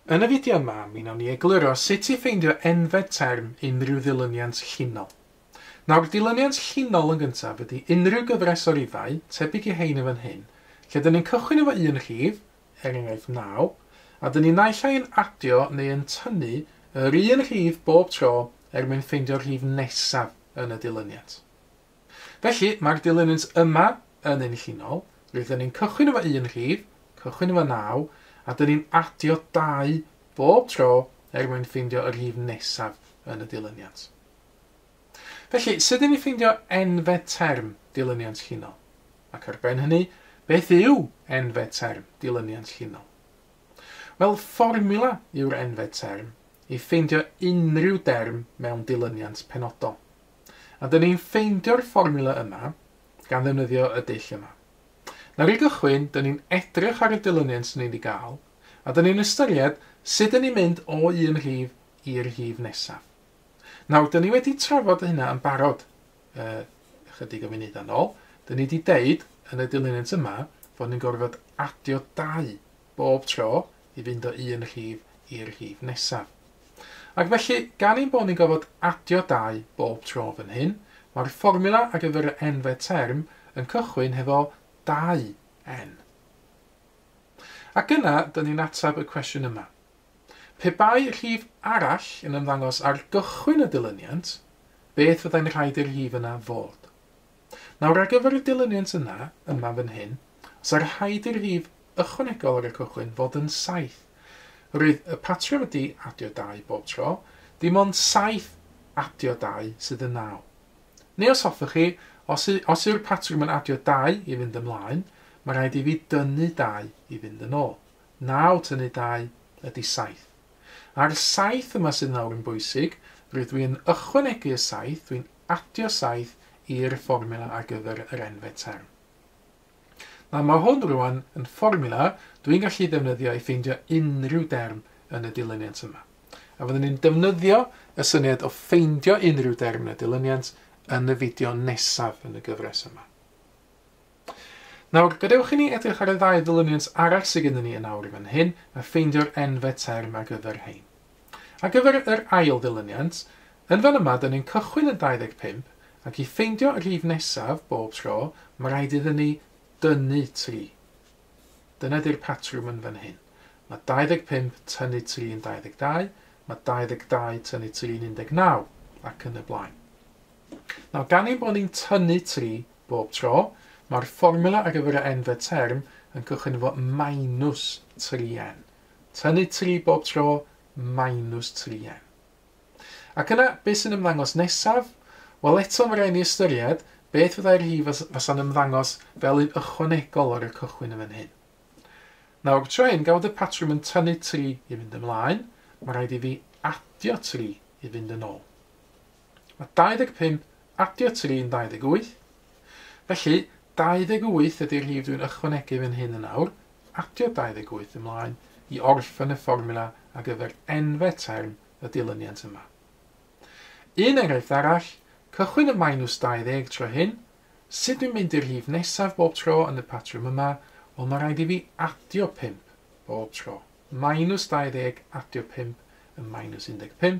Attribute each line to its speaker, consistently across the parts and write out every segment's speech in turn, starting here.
Speaker 1: Yn y fideo yma, mi wnawn ni egluro sut i ffeindio enfed term unrhyw ddilyniant llinol. Nawr, dilyniant llinol yn gyntaf ydy unrhyw gyfres o rifau, tebyg i rhein yn fan hyn, lle dyn ni'n cychwyn efo un rhif, er enghraifft 9, a dyn ni naill ai yn adio neu yn tynnu yr un rhif bob tro er mwyn ffeindio'r rhif nesaf yn y dilyniant. Felly, mae'r dilyniant yma yn un llinol, rydyn ni'n cychwyn efo un rhif, cychwyn efo 9, a dyn ni'n adio 2 bob tro er mwyn ffeindio y rhif nesaf yn y dilyniant. Felly, sut dyn ni'n ffeindio enfed term dilyniant llinol? Ac ar ben hynny, beth yw enfed term dilyniant llinol? Wel, fformula yw'r enfed term i ffeindio unrhyw derm mewn dilyniant penodol. A dyn ni'n ffeindio'r fformiwla yma gan ddefnyddio y dull yma. Nawr i gychwyn, dyn ni'n edrych ar y dilyniant dyn ni'n ei gael, a dyn ni'n ystyried sut dyn ni'n mynd o un rhif i'r rhif nesaf. Nawr, dyn ni wedi trafod hynna yn barod uh, ychydig o funudau'n ôl. Dyn ni wedi deud yn y dilyniant yma fod ni'n gorfod adio dau bob tro i fynd o un rhif i'r rhif nesaf. Ac felly, gan ein bod ni'n gorfod adio dau bob tro fan hyn, mae'r fformula ar gyfer y nfed term yn cychwyn hefo 2n. Ac yna, dyn ni'n atab y cwestiwn yma. Pe bai rhif arall yn ymddangos ar gychwyn y dilyniant, beth fyddai'n rhaid i'r rhif yna fod? Nawr ar gyfer y dilyniant yna, yma fan hyn, os ar rhaid i'r rhif ychwanegol ar y cychwyn fod yn saith, roedd y patrwm ydi adio dau bob tro, dim ond saith adio dau sydd yn naw. Neu os hoffech chi, os y, os yw'r patrwm yn adio dau i fynd ymlaen, mae rhaid i fi dynnu dau i fynd yn ôl. Naw tynnu dau ydi saith. A'r saith yma sydd nawr yn bwysig, rydw i yn ychwanegu y saith, dwi'n adio saith i'r fformiwla ar gyfer yr enfed term. Nawr mae hwn rwan yn fformiwla dwi'n gallu ddefnyddio i ffeindio unrhyw derm yn y dilyniant yma. A fyddwn ni'n defnyddio y syniad o ffeindio unrhyw derm yn y dilyniant yn y fideo nesaf yn y gyfres yma. Nawr, gadewch i ni edrych ar y ddau ddilyniant arall sydd gennym ni yn awr fan hyn, a ffeindio'r enfe term ar gyfer rhein. Ar gyfer yr ail ddilyniant, yn fan yma dyn ni'n cychwyn yn 25, ac i ffeindio y rhif nesaf bob tro, mae rhaid iddyn ni dynnu 3. Dyna di'r patrwm yn fan hyn. Mae 25 tynnu 3 yn 22, mae 22 tynnu 3 yn 19, ac yn y blaen. Nawr, gan ein bod ni'n tynnu tri bob tro, mae'r fformwla ar gyfer y n-fed term yn cychwyn efo minus 3n. Tynnu tri bob tro, minus 3n. Ac yna, beth sy'n ymddangos nesaf? Wel, eto mae rhaid ni ystyried beth fyddai'r rhif fasa'n ymddangos fel un ychwanegol ar y cychwyn yn fan hyn. Nawr, tro hyn, gawd y patrwm yn tynnu tri i fynd ymlaen, mae rhaid i fi adio tri i fynd yn ôl. Mae 25 adio 3 yn 28, felly 28 ydy'r rhif dwi'n ychwanegu fan hyn yn awr, adio 28 ymlaen i orffen y fformula ar gyfer enfe term y dilyniant yma. Un enghraifft arall, cychwyn y minus 20 tro hyn, sut dwi'n mynd i'r rhif nesaf bob tro yn y patrwm yma, wel mae rhaid i fi adio 5 bob tro, minus 20 adio 5 yn minus 15,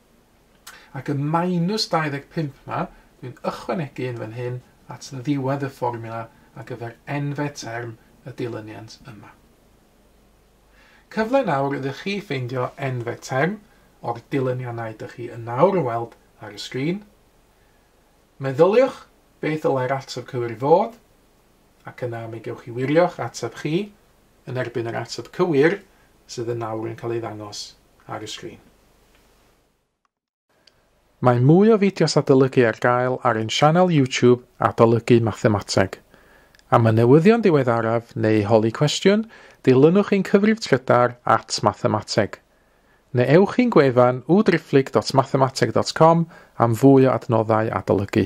Speaker 1: Ac y minus 25 'ma, dwi'n ychwanegu un fan hyn at ddiwedd y fformiwla ar gyfer enfe term y dilyniant yma. Cyfle nawr iddo chi ffeindio enfe term o'r dilyniannau dych chi yn nawr yn weld ar y sgrin. Meddyliwch beth ddylai'r ateb cywir fod, ac yna mi gewch chi wirio'ch ateb chi yn erbyn yr ateb cywir sydd yn nawr yn cael ei ddangos ar y sgrin. Mae mwy o fideos adolygu ar gael ar ein sianel YouTube Adolygu Mathemateg. Am y newyddion diweddaraf neu holi cwestiwn, dilynwch ein cyfrif trydar at Mathemateg. Neu ewch i'n gwefan www.driphlyg.mathemateg.com am fwy o adnoddau adolygu.